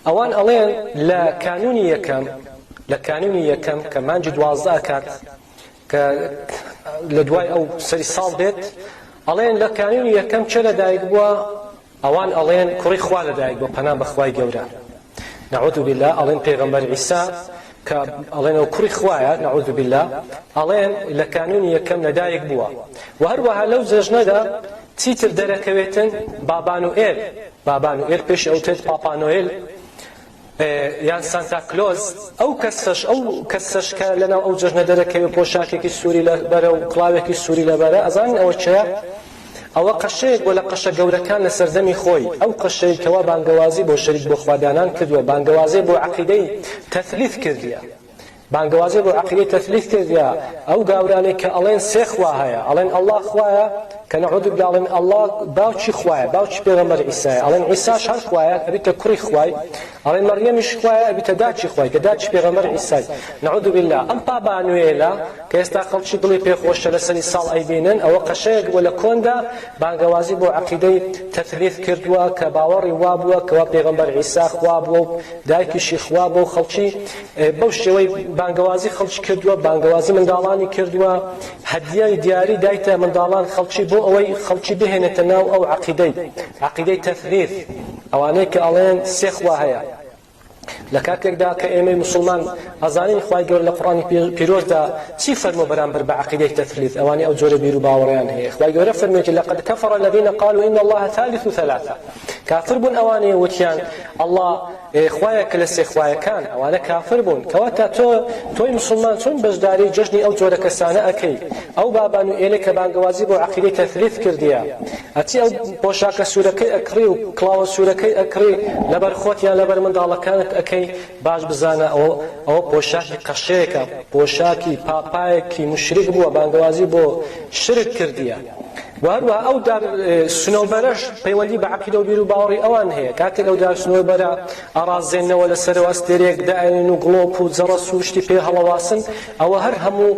ئەوان ئەڵێن لە کانونی یەکەم لە کانونی یەکەم کە مانجی دوازدە ئەکات کە لە دوای ئەو سەری ساڵ دێت ئەڵێن لە کانونی یەکەم چێ لەدایک بووە ئەوان ئەڵێن کوڕی خوا لەدایک بۆ پەنا بەخوای گەورە نعوذ بالله ئەڵێن پێغەمبەر عیسا کە ئەڵێن ئەو کوڕی خوایە نعوذ باللە ئەڵێن لە کانونی یەکەم لە دایک بووە و هەروەها لەو جەژنەدا چیتر دەرەکەوێتن بابانوئێل بابانوئێل پێشی ئەوتێت پاپانۆیل یان سانتا کلۆز ئەو کەسەش ئەو کەسەش کە لەناو ئەو جەژنە دەرەکەوێت پۆشاکێکی سووری لەبەرە و کڵاوێکی سووری لەبەرە ئەزان ئەوە چێە ئەوە قەشەیەک بۆ لە قەشە گەورەکان لە سەردەمی خۆی، ئەو قەشەی کەوا بانگەوازی بۆ شەریک بۆ خوا دانان کردوە بانگەوازێ بۆ عەقیدەی تەثلیث کردیە بانگەوازێ بۆ عەقیدەی تەثلیث کردیە ئەو گاورانەی کە ئەڵێن سێ خوا هەیە ئەڵێن اللە خوایە کە نعوذ باللە ئەڵێن اللە باوکی خوایە باوکی پێغەمبەر عیسایە ئەڵێن عیساش هەر خوایە ئەبیتە کوڕی خوای ئەڵێ مەڕیەمیش خوایە ئەبیتە داکی خوای کە داکی پێغەمبەر عیسای نعوذ باللە ئەم پابانوێلە کە ئێستا خەڵکی دڵی پێ خۆش چەنە سەری ساڵ ئەیبینن ئەوە قەشەیەک بووە لە کۆندا بانگەوازی بۆ عەقیدەی تەثلیث کردووە کە باوەڕی وا بووە کەوا پێغەمبەر عیسا خوا بووە و دایکیشی خوا بووە و خەڵکی بەو شێوەی بانگەوازی خەڵکی کردووە بانگەوازی منداڵانی کردووە هەدیای دیاری دایتە منداڵان خەڵکی بۆ ئەوەی خەڵکی بهێنێتە ناو ئەو عەقیدەی عەقیدەی تەثلیث ئەوانەی کە ئەڵێن سێ خوا هەیە، لە کاتێکدا کە ئێمەی موسڵمان ئەزانین خوای گەورە لە قورئانی پیرۆزدا چی فەرمووە بەرامبەر بە عەقیدەی تەثلیث، ئەوانەی ئەو جۆرە بیروباوەڕەیان هەیە، خوای گەورە فەرموویەتی، لقد کفر الذین قالوا ان الله ثالث ثلاثە، کافر بوون ئەوانەی وتیان اللە خوایەکە لە سێ خوایەکان، ئەوانە کافر بوون، کەواتە تۆ تۆی موسڵمان چۆن بەشداری جەژنی ئەو جۆرە کەسانە ئەکەی، ئەو بابان و ئێلە کە بانگەوازی بۆ عەقیدەی تەثلیث کردیە، ئەچی ئەو پۆشاکە سوورەکەی ئەکڕی و کڵاوە سوورەکەی ئەکڕی لەبەر خۆت یان لەبەر منداڵەکانت ئەکەی باش بزانە ئەوە ئەوە پۆشاکی قەشەیەکە پۆشاکی پاپایەکی موشریک بووە بانگەوازی بۆ شرک کردیە و هەروەها ئەو دار سنەوبەرەش پەیوەندی بە عقیدە و بیر و باوەڕی ئەوان هەیە کاتێک ئەو دار سنەوبەرە ئەڕازێنەوە لەسەرەوە ئەستێرەیەک دائەنێن و گڵۆپ و جەڕەس و شتی پێ هەڵەواسن ئەوە هەر هەموو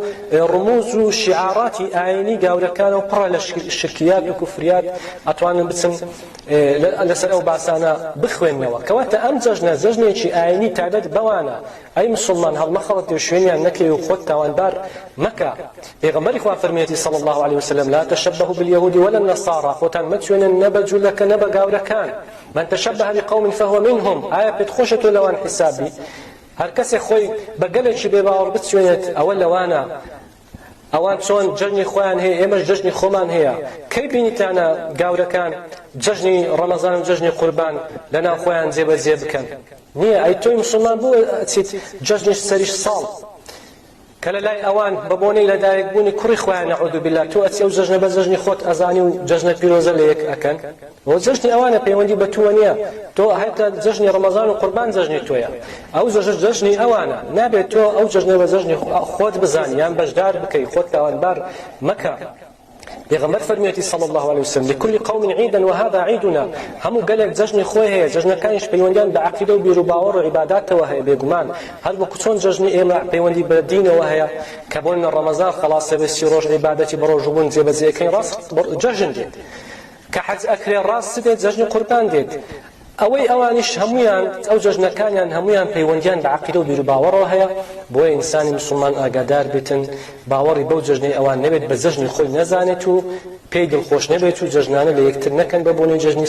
ڕموز و شیعاراتی ئاینی گاورەکانە و پڕە لە شرکیات و کوفریات ئەتوانن بچن لەسەر ئەو باسانە بخوێنەوە کەواتە ئەم جەژنە جەژنێکی ئاینی تایبەت بەوانە ئەی مسلمان هەڵمەخەڵەت و شوێنیان نەکەی و خۆت تاوانبار مەکە پێغەمبەری خوا فەرمیەتی صلی الله علیه وسلم لا تشبهوا باليهود ولا النصارى خۆتان مەچوێنن نە بە جولەکە نە بە گاورەکان من تشبه بقوم فهو منهم ئایا پێت خۆشە تۆ لەوان حساب بی هەر کەسێ خۆی بە گەلێکی بێ باوەڕ بچوێنێت ئەوە لەوانە ئەوان چۆن جەژنی خۆیان هەیە ئێمەش جەژنی خۆمان هەیە کەی بینیتانە گاورەکان جەژنی ڕەمەزان و جەژنی قوربان لە ناو خۆیان جێبەجێ بکەن نییە ئەی تۆی مسلمان بۆ ئەچیت جەژنی سەری ساڵ کە لە لای ئەوان بە بۆنەی لە دایک بوونی کوڕی خۆیان نعوذ باللە تۆ ئەچی ئەو جەژنە بە جەژنی خۆت ئەزانی و جەژنە پیرۆزە لە یەک ئەکەن ئەوە جەژنی ئەوانە پەیوەندی بە تووە نییە تۆ هەتە جەژنی ڕەمەزان و قوربان جەژنی تۆیە ئەو جەژن جەژنی ئەوانە نابێت تۆ ئەو جەژنە بە جەژنی خۆت بزانی یان بەشدار بکەی خۆت تاوانبار مەکە پێغەمبەر فەرموویەتی صلی الله علیه وسلم لكل قوم عيدا وهذا عيدنا هەموو گەلێک جەژنی خۆی هەیە جەژنەکانیش پەیوەندیان بە عەقیدە و بیروباوەڕ و عیباداتەوە هەیە بێگومان هەر وەکو چۆن جەژنی ئێمە پەیوەندی بە دینەوە هەیە کە بۆ نە ڕەمەزان خەڵاسە بێ سی ڕۆژ عیبادەتی بەڕۆژوبوون جێبەجێەکەی ڕاست جەژن دێت کە حەج ئەکرێ ڕاست دێت جەژنی قوربان دێت ئەوەی ئەوانیش هەموویان ئەو جەژنەکانیان هەموویان پەیوەندیان بە عەقیدە و بیروباوەڕەوە هەیە، بۆیە ئینسانی موسڵمان ئاگادار بێتن باوەڕی بەو جەژنەی ئەوان نەبێت بە جەژنی خۆی نەزانێت و پێی دڵخۆش نەبێت و جەژنانە لە یەکتر نەکەن بە بۆنەی جەژنی